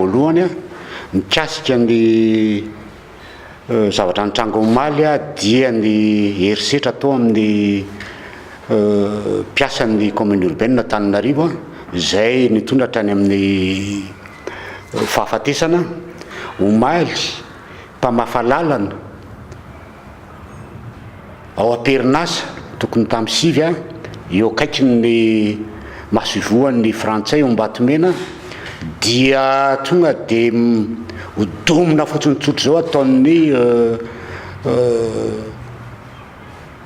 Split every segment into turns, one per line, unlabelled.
Voalohany, mikasika ny zavatra nitranga omaly dia ny herisetra tao amin'ny mpiasan'ny Commune Urbaine Antananarivo izay nitondra hatrany amin'ny fahafatesana omaly mpamafa lalana Ao am-perinasa tokony tamin'ny sivy ha, eo akaikin'ny masoivohon'ny Frantsay ao Ambatomena dia tonga dia hodomina fotsiny tsotra izao ataon'ny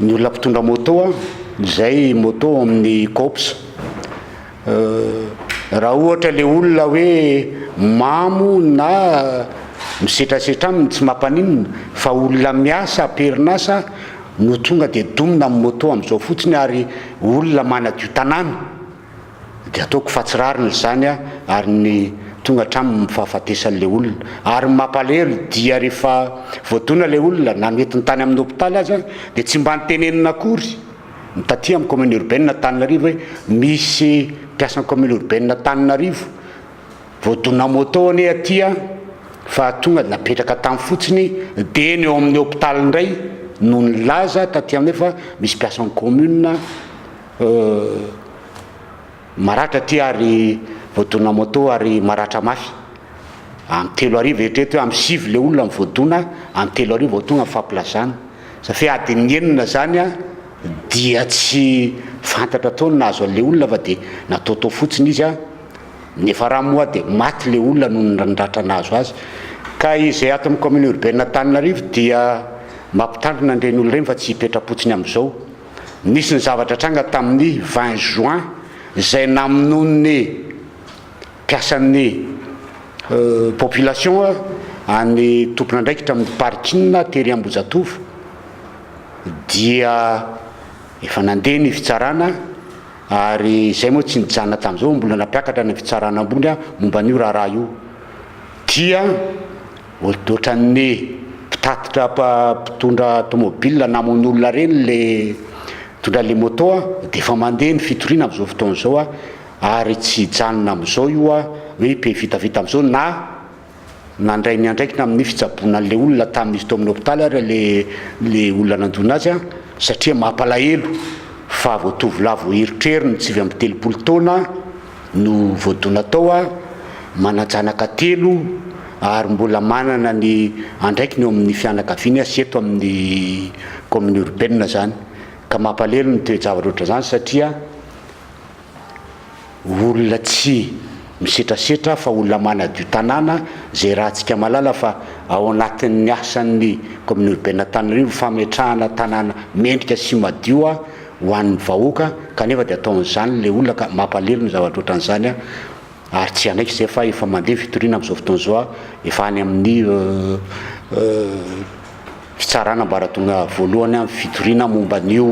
ny olona mpitondra moto izay moto ao amin'ny Coops. Raha ohatra le olona hoe mamo na misetrasetra aminy tsy mampaninona fa olona miasa am-perinasa no tonga dia domina amin'ny moto amin'izao fotsiny ary olona manadio tanàna dia ataoko fa tsy rariny izany ary ny tonga hatramin'ny fahafatesan'ilay olona. Ary ny mampalahelo dia rehefa voadona ilay olona na noentina tany amin'ny hopitaly aza dia tsy mba notenenina akory. Ny taty amin'ny Commune Urbaine Antananarivo hoe misy mpiasan'ny Commune Urbaine Antananarivo vao dona moto anie aty an, fa tonga dia napetraka tany fotsiny dia eny eo amin'ny hopitaly indray no nilaza taty aminay fa misy mpiasan'ny Commune Maratra ity ary voadona moto ary maratra mafy. Amin'ny telo hariva eritrereto hoe amin'ny sivy ilay olona voadona, amin'ny telo hariva vao tonga ny fampilazana. Safi adin'ny enina izany dia tsy fantatra intsony ny nahazo an'ilay olona fa dia nataotao fotsiny izy. Ny niafarany moa dia maty ilay olona noho ny ratra nahazo azy. Ka izay ato amin'ny kaominina orbaine Antananarivo dia mampitandrina an'ireny olona ireny fa tsy hipetra-potsiny amin'izao. nisy ny zavatra tranga tamin'ny vingt juin izay namonoan'ny mpiasan'ny population an'ny tompon'andraikitra amin'ny parking tery Ambohijatovo dia efa nandeha ny fitsarana ary izay moa tsy nijanona tamin'izao mbola nampiakatra any amin'ny fitsarana ambony momba an'io raharaha io dia Otrany mpitatitra mpitondra tomobil namono olona reny le mitondra le moto a, defa mande ny fitoriana amzao fotoana zao a, ary tsy hijanona amzao io a, hoe be vitavita amzao na nandray ny andraikiny aminy fitsaboana anle olona tamin'izy tao amin'ny hopitaly ary le le olona nandona azy a, satria mampalahelo fa vao tovolahy vao eritreriny sivy amby telopolo taona, no voadona tao aho, manan-janaka telo ary mbola manana ny andraikiny eo amin'ny fianakaviany aho sy eto amin'ny kaominina urbaine izany ka mampalahelo ny toe-javatra ohatran'izany satria olona tsy misetrasetra fa olona manadio tanàna izay rahantsika mahalala fa ao anatin'ny asan'ny kaominina urbaine Antananarivo fametrahana tanàna mendrika sy madio aho ho an'ny vahoaka kanefa dia ataon'izany ilay olona ka mampalelo ny zavatra ohatran'izany an! ary tsy hanaiky izay fa efa mandeha ny fitoriana amin'izao fotoana izao an! efa any amin'ny fitsarana ambaratonga voalohany an! ny fitoriana momba an'io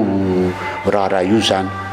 raharaha io izany.